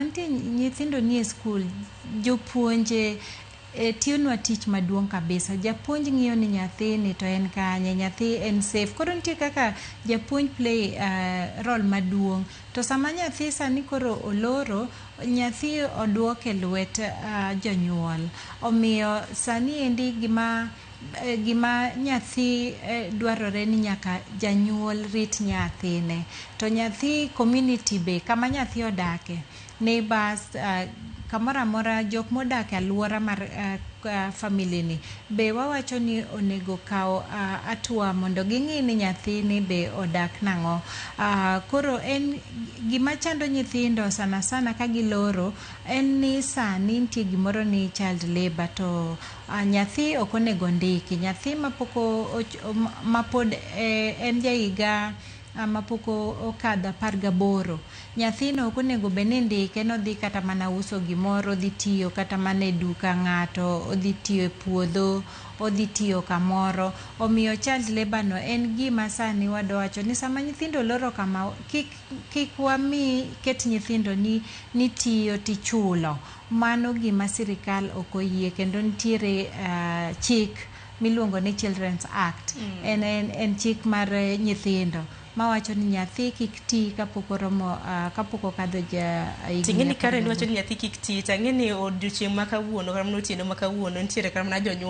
Nitie nyithindo nie skul, jopuonje e, tiyonwa tich maduong' kabisa. Japuonj ng'iyo ni nyathini to en kanye, nyathi en safe. Koro nitie kaka japuonj play uh, role maduong'. To sama nyathi sani koro oloro, nyathi oduok e lwet uh, jonyuol. Omiyo sani endi gima Gima nyathi dwarore ni nyaka janyuol rit nyathine. To nyathi community be kama nyathi odake, neighbours, kamoro amora jok modak e aluora mar family ni be wawacho ni onego okaw atua mondo ging'i ni nyathini be odak nang'o. Koro en gima chando nyithindo sana sana ka giloro en ni sani nitie gimoro ni child labour to A. Nyathi ok onego ondiki. Nyathi ma pok ma pod en ja higa ma pok okadho apar gaboro, nyathino ok onego bed ni indike ni odhi kata mana uso gimoro, odhi tiyo kata mana e duka ng'ato, odhi tiyo e puodho, odhi tiyo kamoro. Omiyo child labour no en gima sani wadwa wacho ni sama nyithindo oloro kama, kik wami ket nyithindo ni tiyo tichulo. Mano gima sirikal ok oyie kendo nitiere chik miluongo ni Children's Act. En, en, en chik mar nyithindo mawacho ni nyathi kik ti kapok oromo ah, kapok okadho ja higni Ting'eni apar kare gaboro. niwacho ni nyathi kik ti, tang'eni odiochieng' ma kawuono kata mana otieno ma kawuono nitiere kata mana jonyuol